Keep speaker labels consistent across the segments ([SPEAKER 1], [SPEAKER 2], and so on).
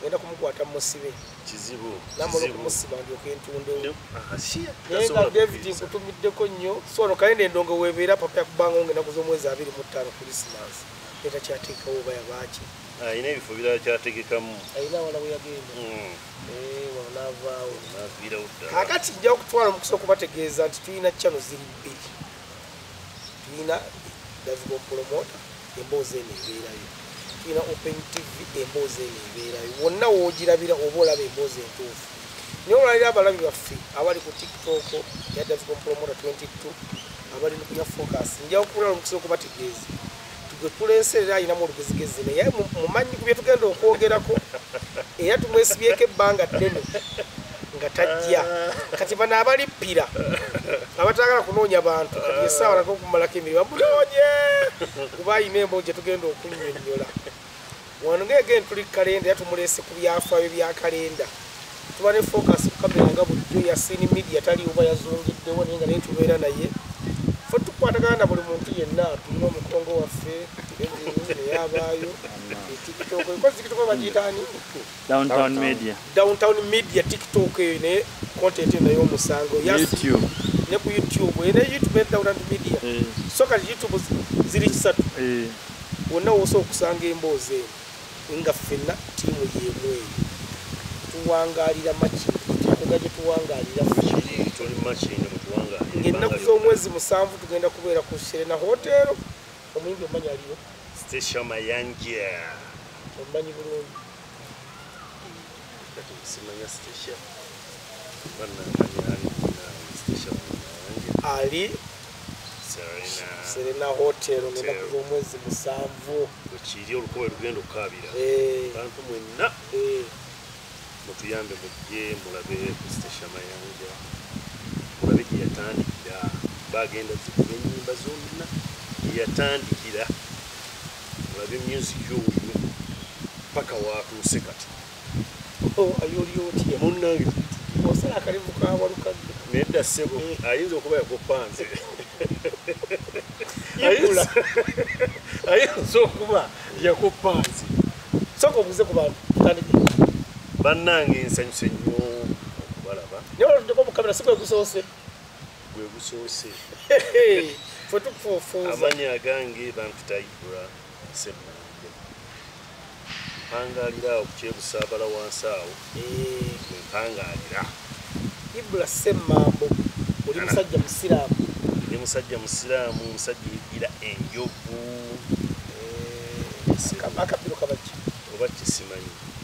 [SPEAKER 1] ngenda kumukwata musibe kizibu
[SPEAKER 2] namala okumusiba
[SPEAKER 1] ndyoka entundewo naye
[SPEAKER 2] nga david
[SPEAKER 1] nkutumiddeko nnyo sono kalenda endongo webeera papa yakubanga onga enaku z'omwezi abiri mu ttaano krisimas etakyateekawo oba yabaaki ayina ah, ebifo birala
[SPEAKER 2] kyategekamu ayina awala weyagenda
[SPEAKER 1] hmm. eh, wano navaawo
[SPEAKER 2] kakati nja okutwala
[SPEAKER 1] omukisa okubategeeza nti tulina cano ziri bbiri tulina davicom promota emboozi eno ebeerayo tulina open tv emboozi eno ebeerayo wonna woogirabira oba olaba emboozi entuufu naye olwaliro abalabi baffe abali ku tiktok ya davicom promota 22 abali nukunya focus njawo kubulala omukisa okubategeeza gwe tuleese era alinamu olugezigezi naye mumanyi ku byetugenda okwogerako era tumwesibyeko ebbanga ddene nga tajja kati bano abalippira abatagala kunoonya bantu kati esaawa naga okumalako emirimu bamunoonye kuba alina emboo gyetugenda okunyonyola wano nga again tuli kalenda era tumuleese ku byafaayo bya kalenda tuba ne focus ku kamera nga bulijjo yasini media tali oba yazungiddewo naye nga naye tubeera naye fe tukwatagana na buli muntu yenna tulina omukongo waffe eyabaayo etikitoko ekozikitoko bagiyitaani downtown media downtown media tiktok eyo ne content eno y'omusango
[SPEAKER 3] ne ku youtube
[SPEAKER 1] ene youtube ne downtown media eh. so kati youtube ziri kisatu eh. wonna wosa okusanga emboozi eno nga ffenna tiimu y'emu eyo tuwangalira makini tukuga gye tuwangalira
[SPEAKER 2] ng'ennaku z'omwezi
[SPEAKER 1] musanvu tugenda kubeera ku serena hoteero omuyimbi omanya aliyo stecia
[SPEAKER 2] mayanja omanyi
[SPEAKER 1] bulungi
[SPEAKER 2] ali
[SPEAKER 1] serena hotel ngenaku zomwezi musanvu wekiri olukuba
[SPEAKER 2] lugenda okukabira eh. bantu mwenna eh. mutuyambe mujje mulabe kustation mayanja mulabe gyeyatandikira bagenda zikuba enyimba zonna gyeyatandikira olabye music owuyo paka watuuse kati oh,
[SPEAKER 1] ayoli otya munange
[SPEAKER 2] osala akalevu
[SPEAKER 1] kawalukadde naye dda ssebo eh.
[SPEAKER 2] ayinza okuba yakopanze ayinza okuba yakopanze soka
[SPEAKER 1] obuze ku bantu bannange
[SPEAKER 2] nsanyuse nnyo okubalaba naye olutudeko mukamera
[SPEAKER 1] sikwekusoose gwe
[SPEAKER 2] gusoose
[SPEAKER 1] fe tukufuufuuza amanyi agange
[SPEAKER 2] bampita ibra semunambe mpangaalira awo kukyebusaabala wansi awo eh. gwe mpangaalira
[SPEAKER 1] ibra semambo oli musajja musiraamu ndi musajja
[SPEAKER 2] musiraamu omusajja egira enjovu
[SPEAKER 1] eh, akapiro kabaki oba kisimanyi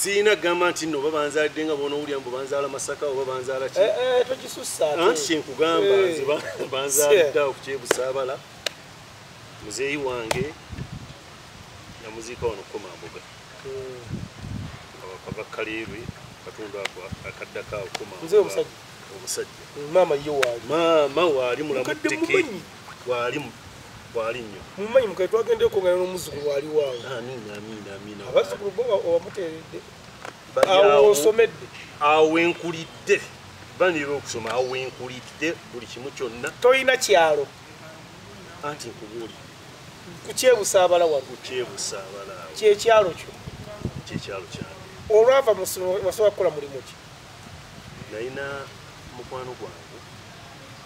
[SPEAKER 2] siina gamba nti no babanzalidde nga bona owulira mbu banzaala masaka oba banzaala ki eh, eh, tokisussanti
[SPEAKER 1] kyenkugamba
[SPEAKER 2] eh. nze banzalidde awo kukyebusaabala muzeeyi wange namuziika wano kukoma mbuga hmm. ava kaleerwe katundu ako akaddako awo koma omusajja maama ye
[SPEAKER 1] waali maama waali
[SPEAKER 2] mulamu teke Wali mu wali nnyo. Mumanyi mukae twagenda
[SPEAKER 1] okungana n'omuzzukulu wali waawo. Amiina amiina amiina.
[SPEAKER 2] Abazzukulu bo
[SPEAKER 1] owamuteeredde. Awo osomedde. Awo wenkulidde.
[SPEAKER 2] Banira okusoma awo wenkulidde buli kimu kyonna. Tolina kyalo. Anti nkubuuli.
[SPEAKER 1] Kukyebusaabala wano. Kukyebusaabala.
[SPEAKER 2] Kyekyalo kyo.
[SPEAKER 1] Kyekyalo
[SPEAKER 2] kyange. Olwava mu ssomero
[SPEAKER 1] wasobola kukola mulimu ki? Nalina
[SPEAKER 2] mukwano gwange.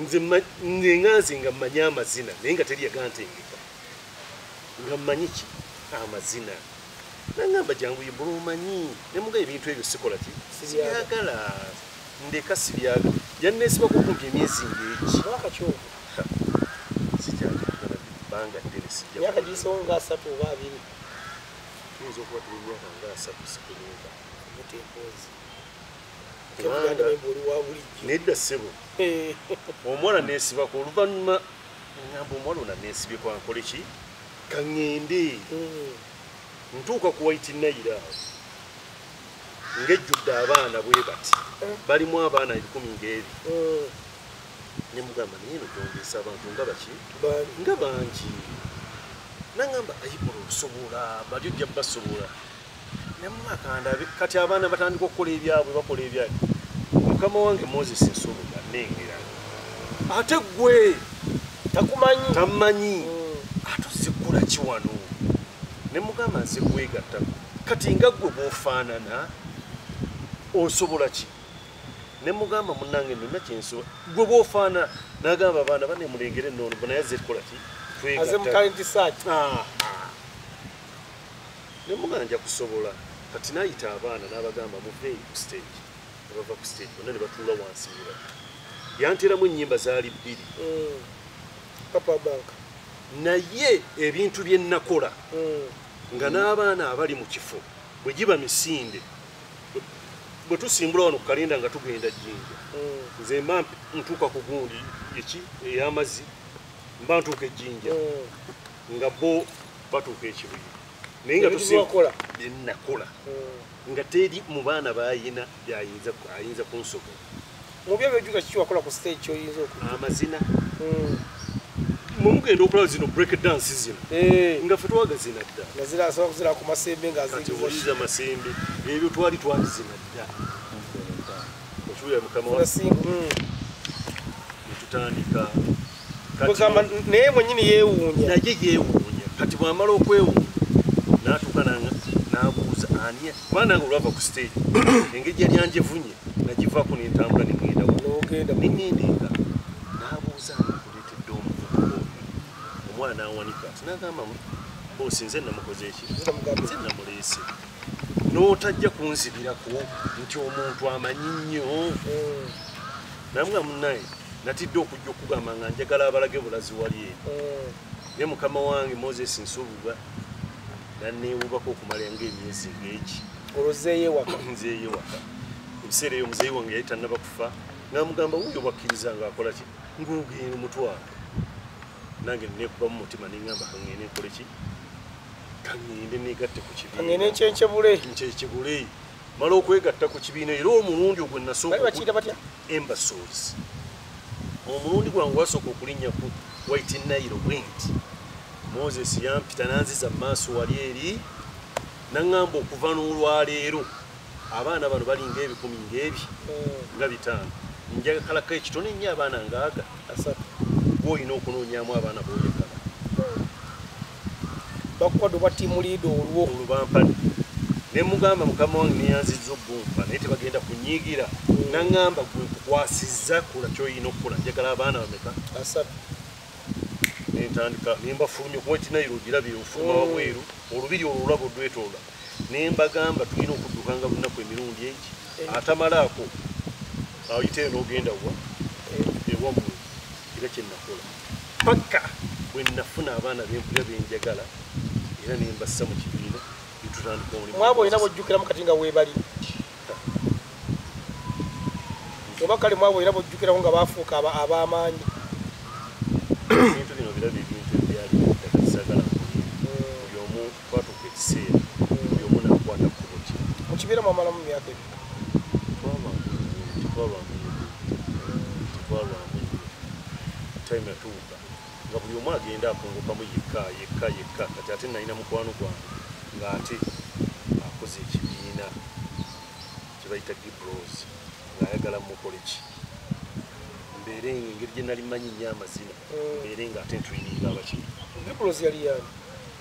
[SPEAKER 2] nze nga nze nga mmanyi amazina naye nga teri yagantengeka nga mmanyi ki amazina nangamba jangu yebula omanyi nemuga ebintu ebyo sikola ki sibyagala ndeka sibyaga yannesibako okumpi emyezi ngeki sijaibanga ddene sijayakagiisewo nga asatu
[SPEAKER 1] oba abiri
[SPEAKER 2] tuyinza okuba tuli myaka nga asatu sikulunga mutempozi nedda sebo eh. omwana nesibako oluvanyuma ngamba omwana ona nesibye kwankole ki kaŋende hmm. ntuuka ku waiti nayira ngejjudde abaana bwe bati eh. balimu abaana ebikumi ngaebi hmm. nemugamba naye no gyongeesa abantu nga baki nga bangi nangamba ayibula osobola bali ojja basobola nemumakandabe kati abaana batandika okukola ebyabwe bakola ebyabwe mukama wange moses nsonga nengera ate gwe takumanyi tamanyi mm. atuzikula kiwano nemugamba nze kwegatta kati nga gwe bwofaanana osobola ki nemugamba munange nina kyenso gwe bwofaana nagamba abaana banemulengere noono bonaye aze kukola ki twegatta Nemuga nja kusobola kati nayita abaana n'abagamba muve ku stage ne bava ku stage bonna ne batuula wansi ne bati yanteeramu ennyimba zaali bbiri mm. papa
[SPEAKER 1] bank naye
[SPEAKER 2] ebintu bye nnakola mm. nga n'abaana abali mu kifo bwe giba misinde bwe tusimbula wano ku kalenda nga tugenda jjinja mm. nze mba ntuuka ku gundi eki ey'amazzi mba ntuuka ejjinja nga bo batuuka ekibuyi naye nga tusiwakola byenakola hmm. nga teri mu baana bayina byayinza ayinza kunsobo mubyo byojuka
[SPEAKER 1] kiki wakola ku stage kyoyinza oku amazina
[SPEAKER 2] hmm. mumugenda okulaba zino break dance zino eh. nga fe twagazina dda nazirasobola ku
[SPEAKER 1] masembe nga ziwuliza masembe
[SPEAKER 2] ebyo twali twazina dda okiwulira mukama wa hmm. netutandika kugamba
[SPEAKER 1] naye mwenyini yewuunya naye yewuunya
[SPEAKER 2] kati bwamala okwewuunya natuuka nabuuza ani kuba nange olwava ku stage engeri yali anjevunye nagivako nentambula nengenda nogenda nengenda eka nabuuza nakuletedde omuvubuka omwana nawanika tinagamba bosi nze namukoze eki nze namuleese notajja kunzibirako nti omuntu amanyi nnyo hmm. namwe munaye natidde okujja okugamba nga njagala abalage bulazi wali e eh. ne mukama wange moses nsubuga nanewubako okumala nga emyezi ngeki olwozeyewaka nzeyewaka ebiseera eyo muzeyi wange yali tannaba kufa namugamba wuyo bakkiriza nga akola ki ngogenda omutwalo nange nekuba mu mutima nengamba kangende nkole ki kangende negatte ku kibiina kangende nkyekibule nkyekibule mala okwegatta ku kibiina era omulundi ogwe nasooka batya embasozi omulundi gwange wasooka okulinnya ku white nile wind moses yampita nanziza mumaaso wali eri naŋŋamba okuva n'olwaleero abaana bano balinga ebikumi ngaebi hmm. nga bitaano njagakalako ekitone nnyo abaana ngaaga asatu gwoolina okunoonyamu abaana boyagala
[SPEAKER 1] bakukwata obwa tiimu liida olwo olwo bampadde
[SPEAKER 2] ne mugamba mukama wange neyanziza okumpa naye tebagenda kunyigira naŋamba gwe nkukwasizza kola kyoyina okukola njagala abaana bameka asatu nentandika nembafulumya kuba kinairo ogirabye ofuluma mm. wabweru olubiri olwo olaba odwetoola nembagamba tulina okuddukanga lunaku emirundi egi eh. atamalaako ayiteyo nogenda wa eh. ewamwe era kyenakola paka bwenafuna abaana bempulira benjagala era nembassa mu kibiina netutandikaomwaba olina bwojjukiramu kati
[SPEAKER 1] nga webali oba kale mwaba olina bwojjukiramu nga bafuuka abamaanyi
[SPEAKER 2] twatuuka ekiseera buli omu nakwata kkubo kye mu kibiina
[SPEAKER 1] mwamalamu myaka
[SPEAKER 2] ebiri time yatuuka nga buli omu agenda akungukamu yekka yekka yekka kati ate nalina mukwano gwange ng'ate akoze ekibiina kyebayita gibros ng'ayagala mukole ki mbeere engeri gye nali manyi nyo amazina mbeere ng'ate ntrininga abakiri gibros yali yani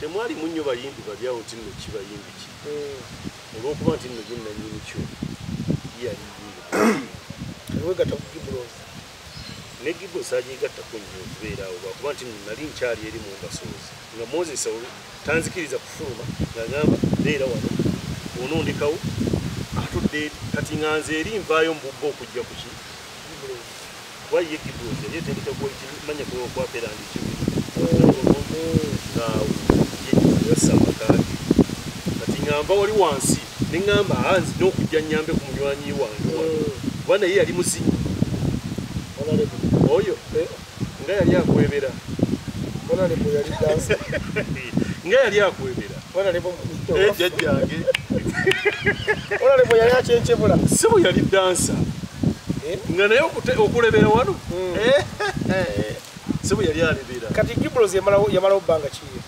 [SPEAKER 2] Temwali mu nnyo bayimbi babi awo nti nno ki bayimbi ki eh. olw'okuba nti nno ye nnannyini kyo yali
[SPEAKER 1] wegata ku gibros ne
[SPEAKER 2] gibros agyegattako nnyo okubeera awo lwakuba nti nno nali nkyali eri mu mbasoozi nga moses tanzikiriza kufuluma nga ngamba beera wano onondekawo atudde kati nganze eri nvaayo mu bubba okujja kuki Why ye kibuuze ye tendeka kuwa kimanya kuwa kuwa pera ndi kibu omu nga yekisa makage kati ngamba wali wansi ne ngamba anzi n'okujja nyambe ku munywanyi wange kuba naye yali muzinyi oyo eh, nga yali akwebera nga yali akwebera jajjange
[SPEAKER 1] yali akyenkyebula si bwe yali dansa
[SPEAKER 2] eh? nga naye okulebera wano hmm.
[SPEAKER 1] eh, eh, si bwe yali alebera kati gibros yamalawo
[SPEAKER 2] bbanga kiye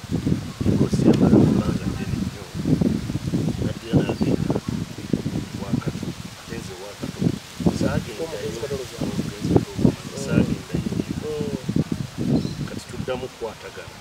[SPEAKER 2] kati tuddamu kukwatagana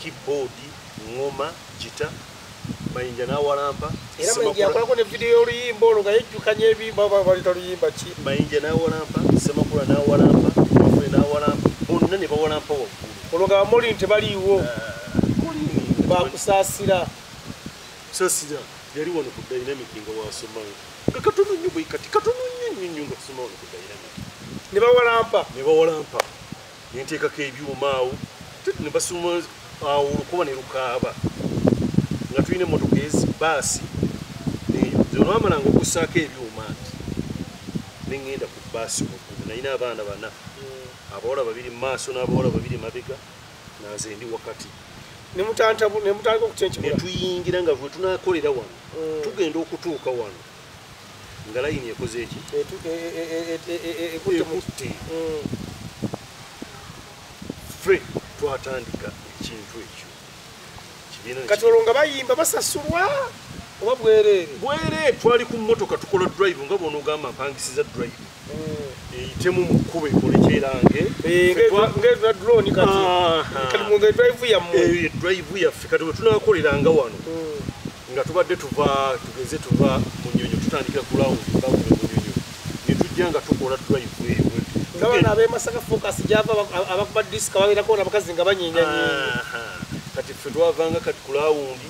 [SPEAKER 2] keyboard ngoma jita mayinja nawalampa era mayinja yakolako
[SPEAKER 1] ne video y'oluyimba olwo nga yejjukanya ebimba oba balita luyimba ki mayinja nawalampa
[SPEAKER 2] semakula nawalampa mafule nawalampa bonna ne bawalampa waggulu olwo nga bamuli nti
[SPEAKER 1] baliiwo ah, bakusaasira
[SPEAKER 2] saasira yali wano ku dynamic nga wasomayo nga katono nnyo bwekati katono nnyo nnyo nnyo nga kusoma wano ku dynamic ne bawalampa
[SPEAKER 1] ne bawalampa nenteekako
[SPEAKER 2] ebyuma awo ne basuma awo olukuba ne lukaaba nga tulina emmotoka ezi baasi eyo olwamalanga okusaako ebyuma nti ne ŋŋenda ku baasi waggulu nalina abaana bana hmm. abawala babiri mu maaso n'abawala babiri mabega nanze ndi wakati nemutandika
[SPEAKER 1] okutenkibula netuyingira nga bwe
[SPEAKER 2] tunakolera wano hmm. tugenda okutuuka wano nga layini ekoze eki ekutte ffe twatandika ekintu ekyo kati
[SPEAKER 1] olwo nga bayimba basasulwa oba bwereere bwereere twali ku
[SPEAKER 2] mmotoka tukola drive nga bwonoogamba mpangisiza drive eyitemu mu kkubo ekolekerange
[SPEAKER 1] ngedroni katidrive yammwe yaffe kati
[SPEAKER 2] wetunakoleranga wano hmm. nga tubadde tuva tugeze tuva mu nyonyo tutandikira ku lawundi bawume mu nyonyo ne tujja nga tukola drive eyo ngabana
[SPEAKER 1] abemasaka focus gyava abakuba disika babeerako nabakazi nga banyiinyanyiinyi kati ffe
[SPEAKER 2] twavanga kati ku lawundi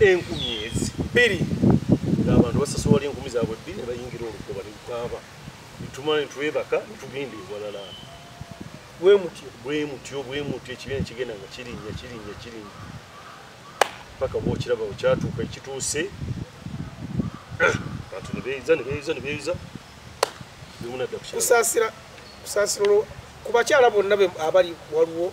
[SPEAKER 2] enkumi ezi bbiri ng'abantu basasola enkumi zaabwe bbi ne bayingira olugoba ne lukaaba netumala ne twebaka ne tugenda ewalala bwe mutyo bwe mutyo bwe mutyo ekibiina kigenda nga kirinnya kirinnya kirinnya paka bwokiraba okyatuuka ekituuse bantu ne beeyiza ne beeyiza ne beeyiza bemunadda kusaasira
[SPEAKER 1] kusaasira olwo ku bakyala bonna abali waliwo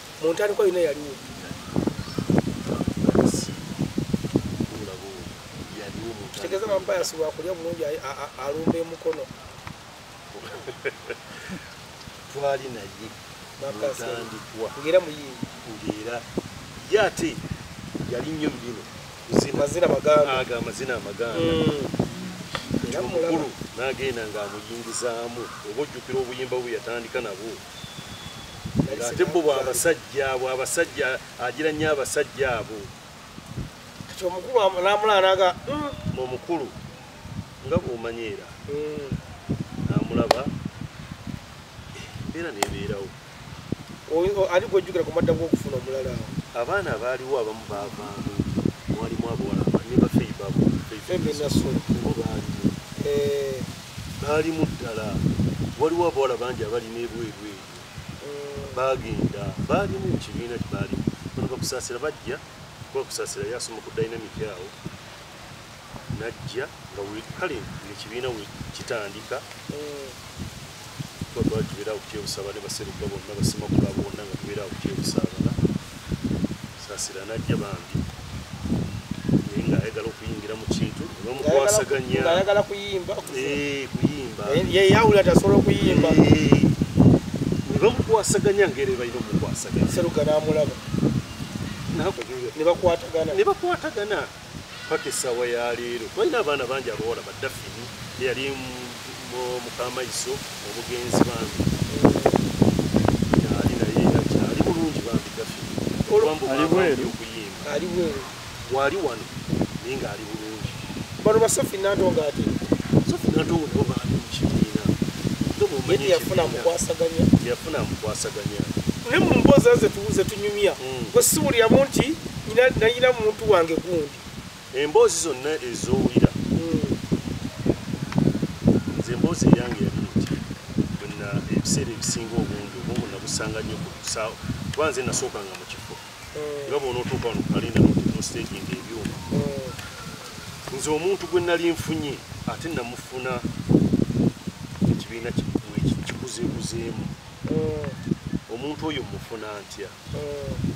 [SPEAKER 1] mu ntandikwa yonna yaliwo kitegeeza bampayasi wakulya bulungi alumba emukono
[SPEAKER 2] twali naye mutandikwa ngera muyimbi
[SPEAKER 1] ngera
[SPEAKER 2] ye ate yali nnyo mubino mazina
[SPEAKER 1] magandaga amazina
[SPEAKER 2] amaganda omukulu mm. nagenda ngaamuyingizaamu oba ojjukira obuyimba bwe yatandika nabwo ate bo bwabasajja bwabasajja agira nnyo abasajja abo
[SPEAKER 1] kati omukulu namulanaga mm. omukulu
[SPEAKER 2] nga bwomanyi era mm. namulaba embeera nebeerawo
[SPEAKER 1] ali gwejjukira ku madda gwokufuna omulala awo abaana abaaliwo
[SPEAKER 2] abamu bavaamu mwalimu abawala nebafeibabo feibinaso bo baaliwo eh. Baalimu ddala. Waliwo abawala bangi abali n'ebweru eyo. Eh. Baagenda. Baalimu mu kibiina kye baalimu. Bano bakusaasira bajja. Kuba kusaasira yasoma ku dynamic awo. Najja nga we kale ekibiina we kitandika. Eh. Kuba twali tubeera awo kyebusaaba ne baseruka bonna basimakula bonna nga tubeera awo kyebusaaba. sasira najja bambi naye nga ayagala okuyingira mu kintu bamukwasaganya ayagala kuyimba
[SPEAKER 1] eh, kuyimba eh, yeyawula
[SPEAKER 2] tasobola okuyimba eh, ne bamukwasaganya ngeri balina omukwasaganya seruga namulaba
[SPEAKER 1] nebakwatagana
[SPEAKER 2] paka esaawa ya leero twalina abaana bangi abawala badafini eyali mukamaiso omugenzi bambi ali naye akyali bulungi bambi dafini olwambuokuyimba wali wano naye nga ali bulungi bano basofi
[SPEAKER 1] nantonga ati sofi nantonga
[SPEAKER 2] nabo bambi mukibiina
[SPEAKER 1] yafuna mukwasaganya yafuna mukwasaganya naye mu mboozi aze tuwuze tunyumya mm. gwe siwuliramu nti Nina nina muntu wange gundi. Emboozi
[SPEAKER 2] zonna ezowulira. Mm. Nze emboozi yange yali nti bwena ebiseera ebisinga obungi obwongo nabusanga nnyo ku kusaawa kuba nze nasooka nga mu kifo mm. nga bwona otuuka wano kalenda nostegi nga ebyuma mm. nze omuntu gwe nali nfunye ate namufuna ekibiina kikuzeekuzeemu mm. omuntu oyo mufuna ntya mm.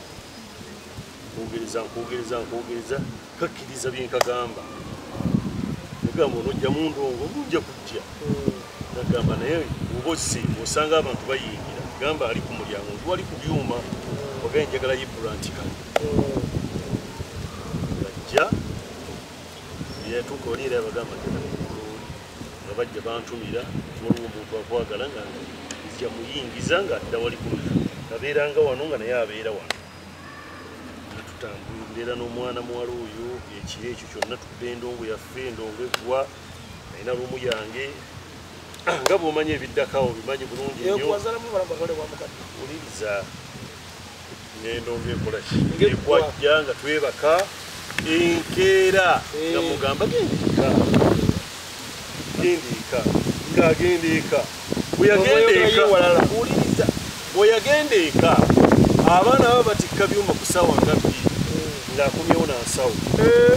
[SPEAKER 2] nkugiriza nkugiriza nkugiriza kakkiriza byenkagamba ogamba onojja mundongo ngunja kujja nagamba naye obosi osanga abantu bayingira gamba ali ku mulyango nti wali ku byuma ogaye njagala yibulantika ajja yatuuka oliira abagamba nga bajja bantumira waliwo omuntu akwagala nga nzija muyingiza nga adda wali kumira abeeranga wano nga naye abeera wano natutambula mbeera n'omwana muwala oyo ekiro ekyo kyonna tudde endongo yaffe endongo eggwa nayina lumu yange nga bwomanyi ebiddakawo bimanyi bulungi nyo oliriza ngendo ngekola ki ngekwajja nga twebaka enkeera eh. nga mugamba gendiika gendiika ng'agenda eka bweyagenda eka wuliriza bweyagenda eka abaana baba batikka byuma ku sawa nga bbiri eh. ng'akomyewo nansawo eh.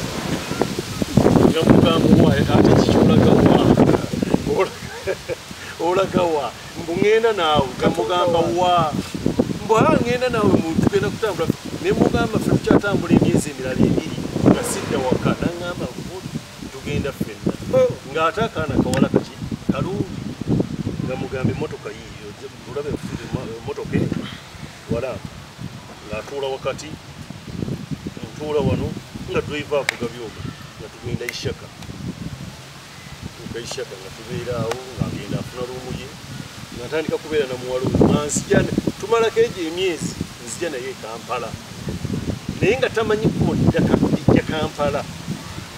[SPEAKER 2] nga mugamba owa ate kikyolagawa olagawa mbu ngenda naawe gamugamba wa mbu a ngenda naawe mutugenda kutambula ne mugamba fe tukyatambula emyezi emirala ebiri nga sidda waka nangamba tugenda ffenna oh. ng'ate akaana kawala kaki kalungi nga mugamba emotoka yiyo olabe emotoka e, eno wala ng'atuula wakati ntuula wano nga drive avuga byoma nga tugenda ishaka tukaishaka nga tubeera awo ng'agenda afuna luumu ye nga ntandika kubeera na muwala oyo nga nzija tumalako egyo emyezi nzija naye ekampala naye nga tamanyi kodda kakudijja kampala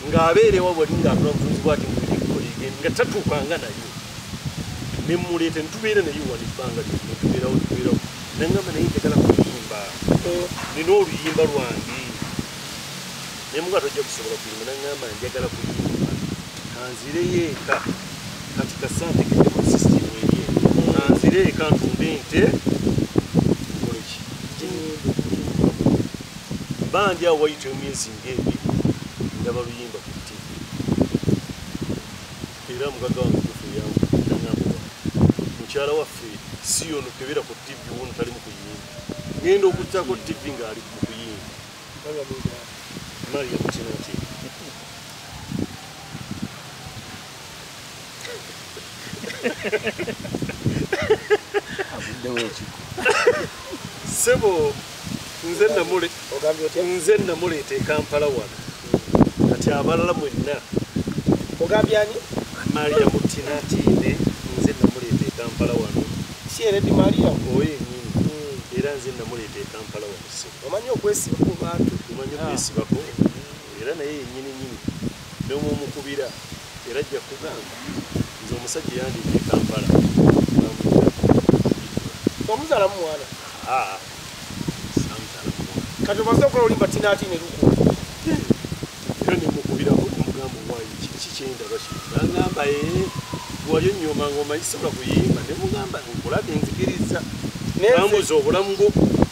[SPEAKER 2] ng'abeera ewa wali ng'afuna bufunzi bwati mulikolege nga tatuukanga naye ne mmuleeta ne tubeera naye wano ebbanga lyo ne tubeerawo tubeerawo nangamba naye njagala kuyimba nina oluyimba lwange naye muka tojja kusobola kuyimba nangamba njagala kuyimba kanzireyo eka kati kasante kedemusisitimu eri kanzire eka ntunde nte koleki bandi awo wayita emyezi ngaebiri ndaba luyimba ku tv era mugaga wange kufu yangu nangamba mukyala waffe si yono kebera ku tv wono talimu kuyimba ngenda okujjako tv ngaali sebo nze namule nze namuleeta ekampala wano kati abalala mwenna ogambyani
[SPEAKER 1] maria
[SPEAKER 2] mutinatine nze namuleeta ekampala wano si eredi maria
[SPEAKER 1] oyo enyini hmm.
[SPEAKER 2] era nze namuleeta ekampala wano sebo omanyi okwesibako
[SPEAKER 1] bantu omanyi okwesibako
[SPEAKER 2] era naye yenyini nyini nomwe omukubira era ajja kugamba nze omusajja yandibye kampala
[SPEAKER 1] omuzala mumwana ah,
[SPEAKER 2] kati omaze okola
[SPEAKER 1] olimba tinati neluku
[SPEAKER 2] era nemukubira omugamba owayi kiki kyendaba ki nangamba e eh, wayo nyoma ngoma isobola kuyimba nemugamba nkulaga enzikiriza nambuza obulamu bwo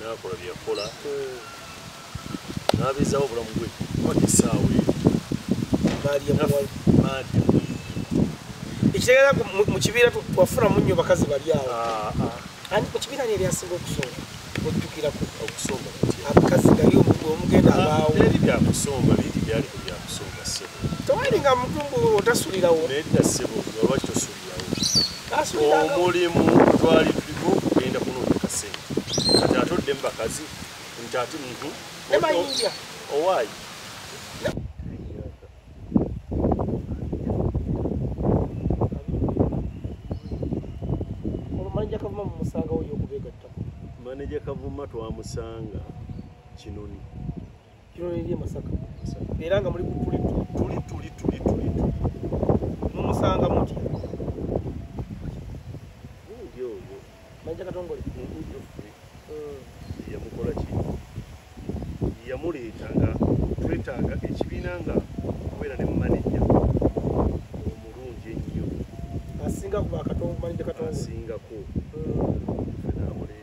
[SPEAKER 2] nakola byeyakola nabezawo obulamu bwe kwata esaawa
[SPEAKER 1] ekitegeera mu kibiira twafuna munyo bakazi bali awo ah, ah. ani ku kibiira neri asinga okusonga ojjukirako okusonga
[SPEAKER 2] abakazi gali
[SPEAKER 1] omuntu omugenda ah, abaawo eri byakusonga
[SPEAKER 2] biri byali ku byakusonga sebo tewali nga mutumbu
[SPEAKER 1] otasulirawo nedda sebo
[SPEAKER 2] olwaki tosu omulimu twali tuliko kugenda kunoonya sente kati ate odde mu bakazi nti ate muntu
[SPEAKER 1] owaayi maneja kavuma
[SPEAKER 2] twamusanga kinoni kino
[SPEAKER 1] liri e masaka era nga muli kutuli tuli tuli tuli tuli mumusanga muti manja katongole mm.
[SPEAKER 2] yamukola ki yamuleeta nga twetaaga ekibiina nga kubeera ne mumanejja omulungi ennyo asingako
[SPEAKER 1] mm. namuleeta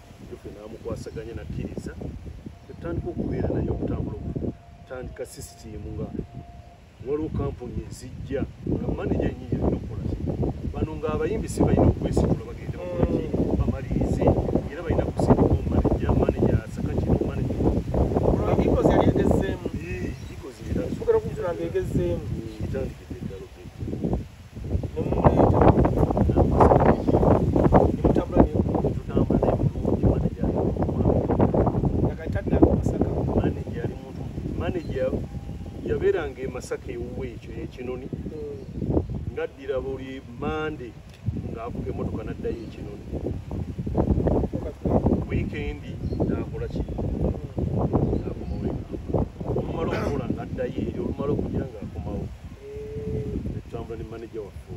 [SPEAKER 2] yofe n'amukwasaganya nakkiriza etandika okubeera naye okutambula okutandika sisitiimu nga waliwo kampuni ezijja nga maneja yenyini yalina okukola bano ng'abayimbi si balina okwesitula bagende bakolaki bamalirize era balina kusindika omumaneja maneja asaka kino maneja egezeemu yabeeranga emasaka ewuwe ekyo ekinoni hmm. ngaddira buli mande ng'avuga emotoka naddayo ekinoni wiikendi nakola ki Tutambula ne manager waffe.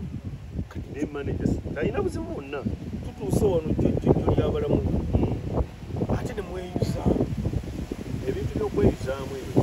[SPEAKER 2] Kati ne manager talina buzibu bwonna. Tutuuse wano
[SPEAKER 1] jjojjojjo ly'abalamu. Ate ne mweyuza
[SPEAKER 2] ebintu by'okweyuzaamu ebyo.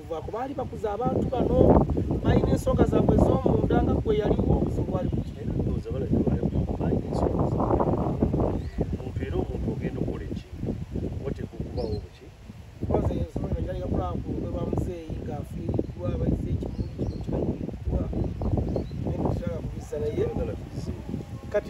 [SPEAKER 1] okuvaako baali bakuza abantu bano
[SPEAKER 2] balina ensonga zaabwe ez'omunda nga gwe yaliwo
[SPEAKER 1] obuzibu bwali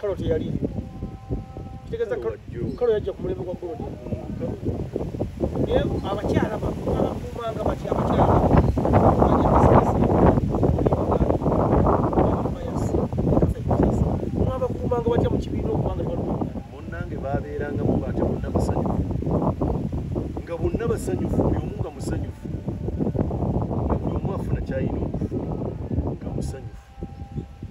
[SPEAKER 1] kalo teyali kitegeza kalo yajja ku mulembe gwa golodi naye abakyala bakuumanga bati abakyala bakuumanga batya mu kibiina okubanga munange
[SPEAKER 2] babeerangamu baatya bonna basanyufu nga bonna basanyufu buli omu nga musanyufu nga buli omu afuna kyayina okufuna nga musanyufu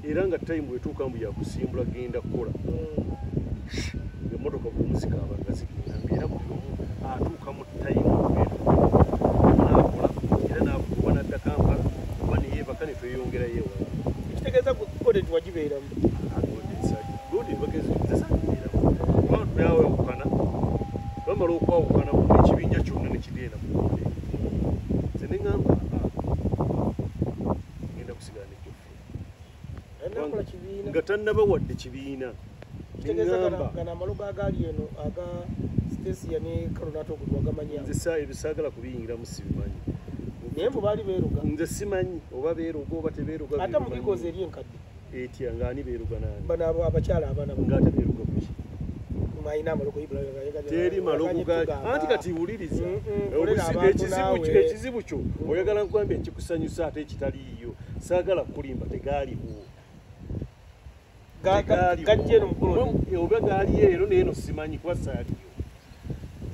[SPEAKER 2] era nga time bwetuuka mbu yakusimbula genda kukola mm. emotoka bwomuzika abanga zigenda ngaera buli omu atuuka mu time nakola era nakuba nadda kampala oba neyebaka netweyongerayo ewa ekitegeeza gode
[SPEAKER 1] tiwagibeeramu
[SPEAKER 2] twawukana bamala okwawukana ekibinja kyonna nekigenda mu gode nze neamba nga tannaba wadde
[SPEAKER 1] kibiina ebisaagala
[SPEAKER 2] kubiyingiramu sibimanyi naye mbu baali
[SPEAKER 1] beeruga nze simanyi oba
[SPEAKER 2] beeruga oba tebeeruga ate mu bikozi eri
[SPEAKER 1] enkadde etya ngaani
[SPEAKER 2] beeruga nani bano abo abakyala abana
[SPEAKER 1] ngaate beeruga
[SPEAKER 2] kuki teri malogo gaki anti kati wuliriza mm, mm, ekizibu kyo oyagala nkwambia ekikusanyusa ate taliiyo saagala kukulimba tegaaliwo oba gaaliyo ero naye no simanyi kuba saaliyo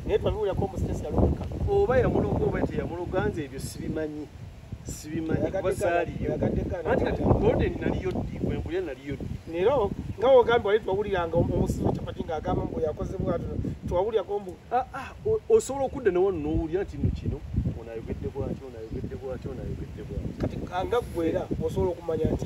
[SPEAKER 2] naye
[SPEAKER 1] twabiwulirako
[SPEAKER 2] omusitesi yaloka
[SPEAKER 1] oba
[SPEAKER 2] yamuloga oba
[SPEAKER 1] teyamuloga
[SPEAKER 2] nze ebyo sibimanyi sibimanyi kuba saaliyo anti kati golden naliyo ddi wembulya naliyo ddi nero nga
[SPEAKER 1] ogambye wali twawuliranga omusizi kyapati ng'agamba mbu yakozebwa twawulirako mbu Ah, ah, osobola
[SPEAKER 2] okudda nawa nowulira nti no kino
[SPEAKER 1] onayogedde
[SPEAKER 2] bwati onayogedde bwati onayogedde bwati kati nga gwe era osobola okumanya nti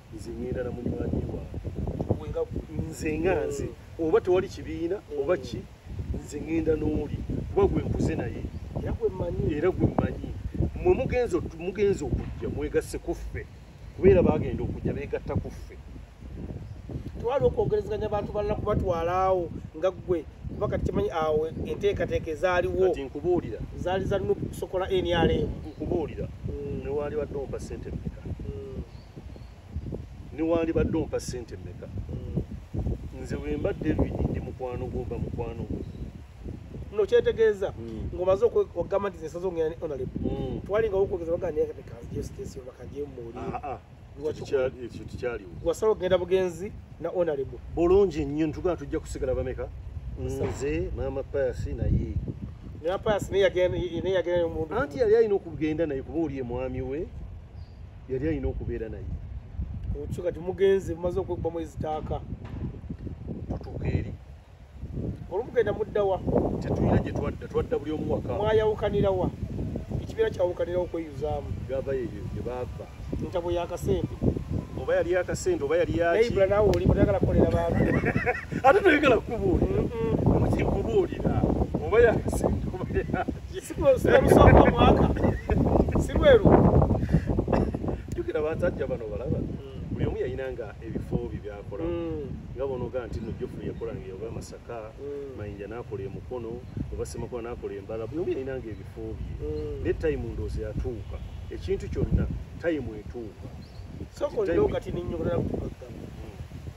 [SPEAKER 2] nze ngenda na munywanyi wange nze nga nze oba tewali kibiina oba ki nze ngenda n'oli kuba gwe nkuze naye era gwe mmanyi mwe mugenza mugenza okujja mwegasse ku ffe kubeera bagenda okujja beegatta ku ffe
[SPEAKER 1] twali okwogerezeganya abantu balala kubatwala awo nga ggwe kuba kati kimanyi awo enteekateeka ezaaliwo nkubuulira
[SPEAKER 2] zaali za nup
[SPEAKER 1] kusokola nrm nkubuulira
[SPEAKER 2] hmm. newaali wadde ompa sente meka newandibadde ompa sente meka mm. nze wemba david ndi mukwano gwomba mukwano gwe no
[SPEAKER 1] kyetegeeza mm. ngomaze okugamba nti zesaza ongera onaleb mm. twalinga okwogeza bagandiakatekazjesitesiobakajemuuli ah, ah.
[SPEAKER 2] wasala okugenda bugenzi
[SPEAKER 1] na onaleb bulungi nnyo ntugaa
[SPEAKER 2] tujja kusigala bameka nze maama payasi naye
[SPEAKER 1] anti yali alina okugenda
[SPEAKER 2] naye kuba oli emwami we yali alina okubeera naye okyo kati
[SPEAKER 1] mugenze mumaze okwekubamu ezitaaka
[SPEAKER 2] tutuuka eri
[SPEAKER 1] olumugenda muddawa tetulina gye
[SPEAKER 2] twadda twadda buli omuwaka mwayawukanirawa
[SPEAKER 1] ekibeera kyawukanirawo okweyuzaamu gava yeyo gye
[SPEAKER 2] baava ntabo yakasente
[SPEAKER 1] oba yali
[SPEAKER 2] yakasente oba yali yakiibula nawe oli mutayagala
[SPEAKER 1] kukolera bantu ate toyagala
[SPEAKER 2] kukubuulira mukikubuulira oba yakasente oba sikusooka
[SPEAKER 1] omwaka sirweru
[SPEAKER 2] jukira basajja bano balaba buli omu yalina nga ebifo bye byakola mm. nga bonoga nti no jofu yakola nga yoba masaka mm. mayinja nakola emukono oba semakola nakola embala buli omu yalina nga ebifo bye mm. ne tayimu ndoozi yatuuka ekintu kyonna tayimu etuuka soko ndoga
[SPEAKER 1] tininyobola kukuka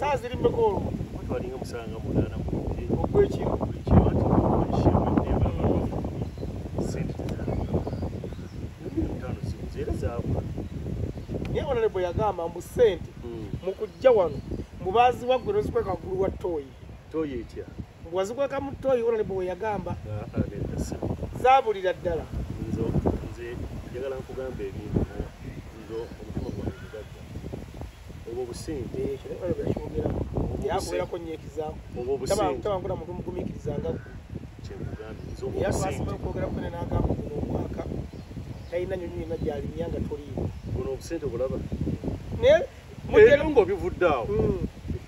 [SPEAKER 1] saa ziri mmeka olwo twalinga musanga
[SPEAKER 2] munaana ogwekiro naye
[SPEAKER 1] onale bwe yagamba mbu sente hmm. mu kujja wano mubaziwa gwe nozikweka waggulu wa toyi
[SPEAKER 2] toyi
[SPEAKER 1] etya wazikweka mu toyi onale bwe weyagamba ah, ah,
[SPEAKER 2] zabulira ddala
[SPEAKER 1] nze
[SPEAKER 2] njagala nkugambe ebintu obwo busente
[SPEAKER 1] eh, obwobusenteabankula muntu mugumikiriza nga yasasima okwogera kwene nagamba guno omwaka talina nyonyi yona gyalinya nga toliiwo buno obusente bulaba
[SPEAKER 2] naye eh, mugere ngaobivudde awo hmm.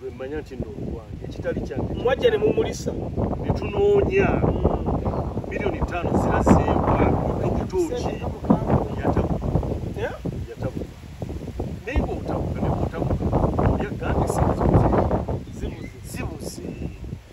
[SPEAKER 2] lwe mmanya nti nno olwange ekitali kyange mwajja ne mumulisa
[SPEAKER 1] ne tunoonya
[SPEAKER 2] milioni ttaano zirazeebwa okutuuki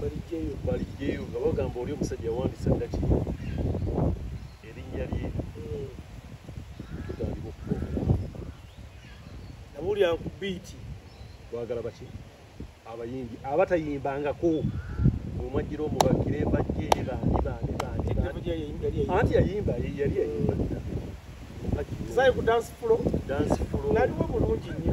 [SPEAKER 2] balijjeyo balijjeyo nga bagamba oli omusajja yawandisa ndaki erinnya lye tutandika okukola nabulya
[SPEAKER 1] ku biiti twagala baki
[SPEAKER 2] abayimbi abatayimbangako omwajjira omubakire bajje bandi bandi bandi anti yayimba yali yayimba
[SPEAKER 1] zayo ku dance floor dance floor naliwo
[SPEAKER 2] bulungi nnyo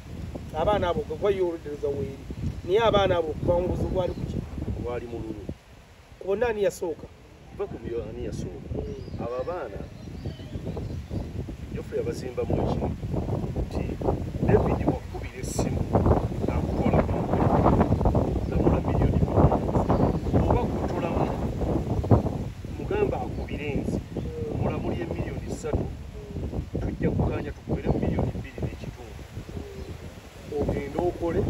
[SPEAKER 1] abaana abo gwe gwayo oludereza weeri naye abaana abo okuva mu buzibu bwali kuki bwali mululu ku
[SPEAKER 2] bonna ani
[SPEAKER 1] yasooka va ku byo ani
[SPEAKER 2] yasooka hmm. abo abaana jofre abazimba mu ekimu nti david wakubira essimu akukola namula miliyoni oba kutulamu mugamba akubire nzi mulamuli emiliyoni ssatu tujja kukanya tukubiremu ogende okole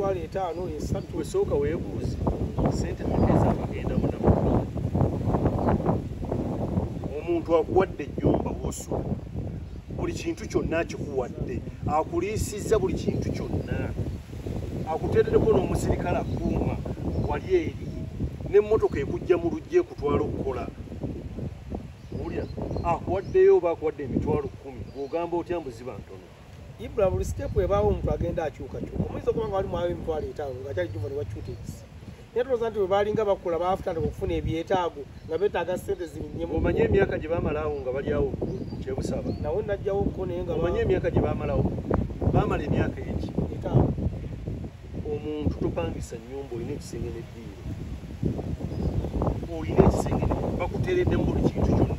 [SPEAKER 2] emitwalo etaano esatu
[SPEAKER 1] esooka weebuuze
[SPEAKER 2] sente mukeza abagenda muna omuntu akuwadde ennyumba wosula buli kintu kyonna akikuwadde akuliisizza buli kintu kyonna akuteeredeko n'omusirikale akuuma wali eri n'emmotoka ekujja mu lujja ekutwala okukola owulira akuwaddeyo oba akuwadde emitwalo kumi ogamba otya mbuziba ntono ibula buli
[SPEAKER 1] sitepu ebaawo omuntu agenda akyukakyuka omuyinza okuba nga wali mwawo emitwalo etaano nga kyali jumba ne wakyuta ebisi naye tulooza nti webaalinga bakula baafutandika okufuna ebyetaago nga betaaga sente zirinyemu omanye emyaka gye bamalaawo
[SPEAKER 2] nga balyawo kyebusaba nawe najjawo ko
[SPEAKER 1] naye nga omanye emyaka gye bamalawo
[SPEAKER 2] bamala emyaka eki omuntu topangisa nyumba olina ekisenge neddiiro olina ekisenge bakuteredde mu buli kintu kyona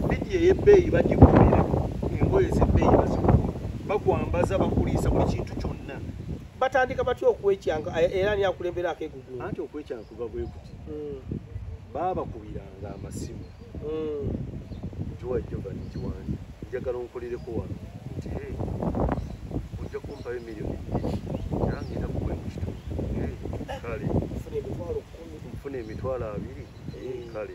[SPEAKER 2] bidi eyebbeeyi bagikubeera engoye zebbeeyi baziku bakwambaza bakuliisa buli kintu kyonna batandika batya
[SPEAKER 1] okwekyanga era ani akulembera akegugu anti okwekyanga kuva
[SPEAKER 2] bwekuti hmm. baabakubiranga amasimu hmm. jowa jovan kiwanja njagala onkolereko wano nti ojja kumpayo emiliyoni nangenda kuwe mu kitundu kale nfuna emitwalo abiri kale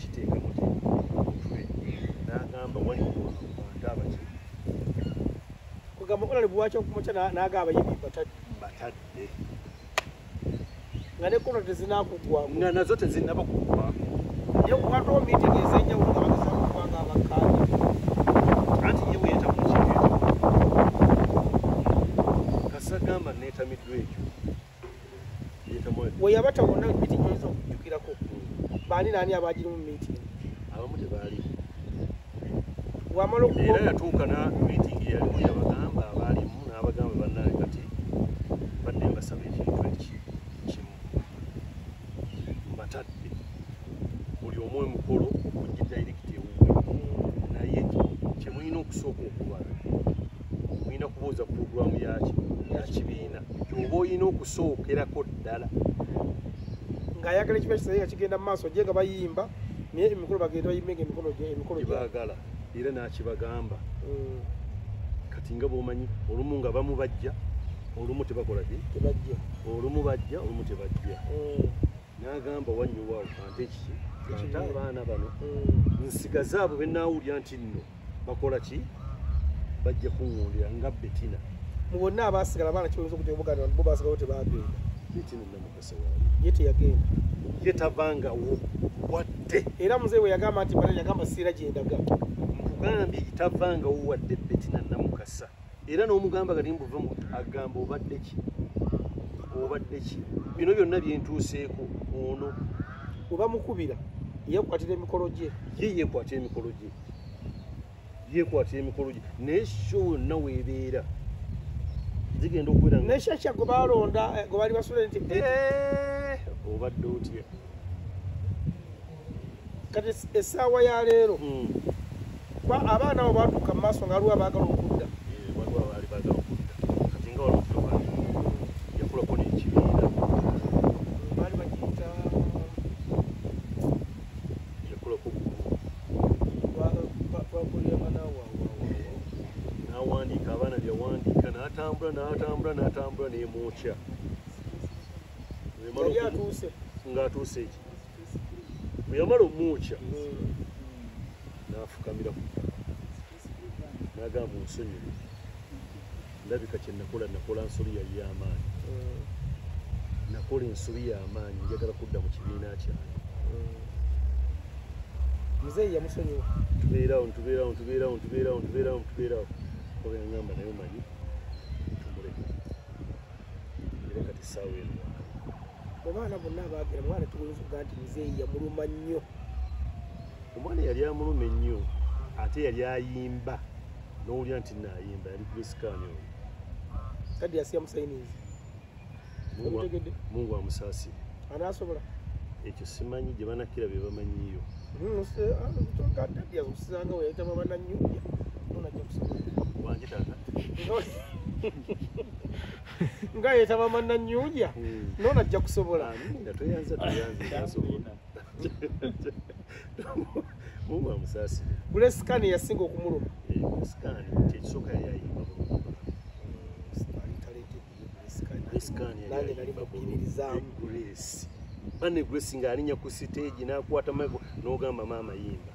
[SPEAKER 2] kiteeka mutwe n'agamba waliwo abantu abaki kugamba
[SPEAKER 1] konale bwaki okumakya n'aga abayibi batadde nga ne kono tezinakugwa nga nazo tezinaba
[SPEAKER 2] kugwa naye kuwatawo
[SPEAKER 1] miitingi ez'enjawulo nga bageza kugwanga abakkaanya
[SPEAKER 2] anti ye bweyeta mu kiteeta kasagamba neetamiddwa ekyo
[SPEAKER 1] we yabata wonna miti gyoyinza okujjukirako baani naani abagirimu miti abamu tebaali wamala era yatuuka
[SPEAKER 2] na mitingi yalimu yabagamba abaalimu n'abagamba bannaye kati badde mbasaba ekintu eki kimu mbatadde buli omu emukolo okujja dairekiti ewuwe naye kyemulina okusooka okubala mulina kubuuza pulogulaamu yaki yakibiina oba olina okusookerako ddala
[SPEAKER 1] ng'ayagala ekiba kisaye nga kigenda mu maaso gye nga bayimba naye emikolo bagenda bayimenga emikolo emikolo gyebagala
[SPEAKER 2] era nakibagamba mm. kati nga bwomanyi olumu nga bamu bajja olumu tebakola ki tebajja olumu
[SPEAKER 1] bajja
[SPEAKER 2] olumu tebajja mm. n'agamba wanyuwawo ante kiki ante abaana bano mm. nsigaze abo benawulira nti nno bakola ki bajja kuŋundira nga betina mu bonna
[SPEAKER 1] abasigala abaana kibayinza okuja omuganda bo basigalawo tebagenda betina namukasa
[SPEAKER 2] waali ye teyagenda
[SPEAKER 1] ye tavangawo
[SPEAKER 2] wadde era muzee we
[SPEAKER 1] yagamba nti bana yagamba siira gyendaga nkugambye
[SPEAKER 2] tavangawo wadde betina namukasa era n'omugamba kati mbuve mu agamba obadde ki obadde ki bino byonna byentuuseeko ono oba
[SPEAKER 1] mukubira yekwatira emikolo gye ye yekwatira emikolo
[SPEAKER 2] gye yekwatira emikolo gye naye sho wonna weebeera zigenda okubeera naye shasha gwe balonda
[SPEAKER 1] eh, gwe bali basula nti eh,
[SPEAKER 2] obadde otya
[SPEAKER 1] kati essaawa ya leero hmm. abaana abo batuuka mu maaso nga aliwo
[SPEAKER 2] abaagala okudda natambula natambula nemwokya
[SPEAKER 1] ngatuuse eki
[SPEAKER 2] bwe yamala omwokya n'afukamira ku ttaka n'agamba onsonyiwe ndabika kye nakola nakola nsobi yali y'amaanyi nakola ensobi y'amaanyi njagala kudda mu kibiina kyange
[SPEAKER 1] muzeeyi yamusonyiwa tubeerawo ntubeerawo ntubeerawo ntubeerawo
[SPEAKER 2] ntubeerawo ntubeerawo oba yangamba naye omanyi tumuleka era kati saawa eno mu baana
[SPEAKER 1] bonna abaagera mwana tuwinza okuga nti muzeeyi yamuluma nnyo
[SPEAKER 2] omwana yali amuluma ennyo ate yali ayimba n'owulira nti naayimba yali kulisikaani oyo kadi
[SPEAKER 1] yasiya musayinizi
[SPEAKER 2] mungu amusaasire anaasobola
[SPEAKER 1] ekyo
[SPEAKER 2] simanyi gye banakira bye bamanyiyo hmm,
[SPEAKER 1] usanga ah, weyayitama bananyumya nonajja kusobola wange tata nga yetaba manna nyunja hmm. nona ajja
[SPEAKER 2] kusobola bulesikani yasinga
[SPEAKER 1] okumuluma
[SPEAKER 2] bane grace nga alinya ku siteegi nakwata mago nogamba maama yimba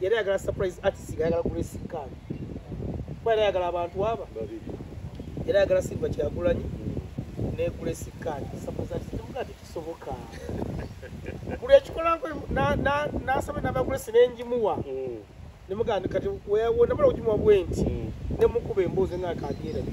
[SPEAKER 1] yali ayagala surprise artist nga ayagala grace khan kuba yali ayagala abantu aba yali ayagala silva kyagulanyi ne grace khan surprise artist temuga ti kisoboka buli ekikolanko nasaba namba grace nenjimuwa mm. nemugandi kati wonamala okujimuwa bwenti mm. nemukuba emboozi nga kabyerabi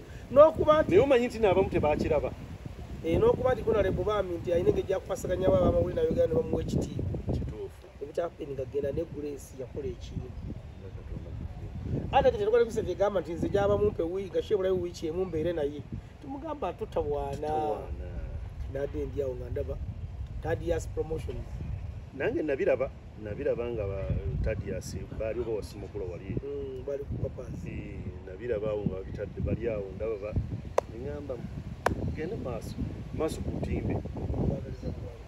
[SPEAKER 1] n'okuba nti naye omanyi nti naabamu
[SPEAKER 2] tebakiraba eh,
[SPEAKER 1] n'okuba nti kunale bubaami nti alina engeri gyakukwasaganyabo abamawuli nayogera ne bamuwa ekitiibwa kituufu ebikyapeni
[SPEAKER 2] nga genda
[SPEAKER 1] ne grace yakola ekiimu ate tetwali kusa gyegamba nti nze gyaba mumpe wii gashe bulayo wiiki emu mbeere naye tumugamba tutawaana nade ndyawo nga ndaba tadias promotions nange
[SPEAKER 2] nabiraba nabiraba nga tadias baali oba wasimukula wali mm,
[SPEAKER 1] eh,
[SPEAKER 2] nabiraba
[SPEAKER 1] awo
[SPEAKER 2] nga babitadde bali awo
[SPEAKER 1] ndababa
[SPEAKER 2] eŋamba gende maaso maaso ku ntimbe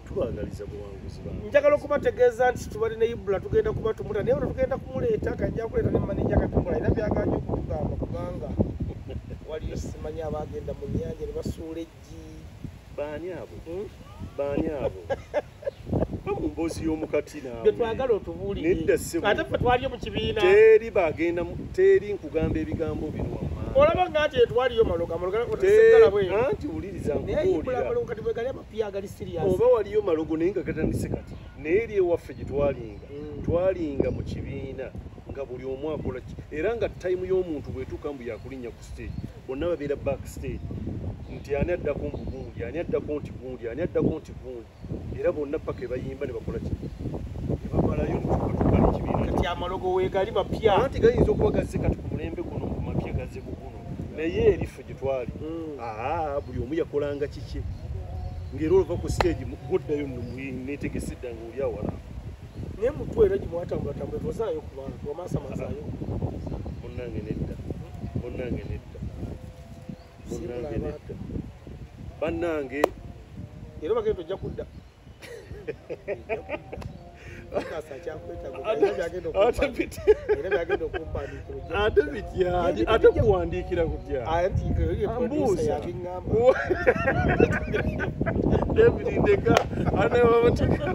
[SPEAKER 2] tubagaliza buwanguzi njagala okubategeeza
[SPEAKER 1] nti tubali ne ibula tugenda kuba tumuta naye ono tugenda kumuleeta kajja kuleeta ne maneja katumula era byaganya okutugamba kubanga waliyo simanyi abagenda mu nyanja ne basuula eggi baani
[SPEAKER 2] abo hmm? baani abo emboozi y'omukati naawetwagala otubuulire
[SPEAKER 1] ate fe
[SPEAKER 2] twaliyo mu kibiina
[SPEAKER 1] teri bagenda
[SPEAKER 2] teri nkugamba ebigambo bino wammaa olaba nga nti etwaliyo
[SPEAKER 1] maloga malogaanti wuliriza
[SPEAKER 2] nkubuuliraoba
[SPEAKER 1] waliyo malogo
[SPEAKER 2] naye nga gatandise kati naye eri ewaffe gye twalinga mm. twalinga mu kibiina nga buli omu akola ki era nga tayimu y'omuntu bwetuuka mbu yakulinnya ku stage bonna babeera back stage nti ani addako mbu gundi ani addako nti gundi ani addako nti gundi era bonna paka ebayimba ne bakola ki nebamalayo netukatukalekibiinati amalogo wegali
[SPEAKER 1] mapya anti gayinza okuba gazze
[SPEAKER 2] kati ku mulembe guno mu mapya gazze ku guno naye eriffe gye twali hmm. aa buli omu yakolanga kikye ng'era olova ku stage guddayo netegese dda nga oli awala naye mutwe
[SPEAKER 1] era gimwatambulatambula tozaayo ku bantu wamasamazaayo munange
[SPEAKER 2] nedda munange nedda munange nedda bannange
[SPEAKER 1] era bagenda ojja kudda
[SPEAKER 2] ate bitya ate kuwandiikira kutya mbuusa david ndeka anababateka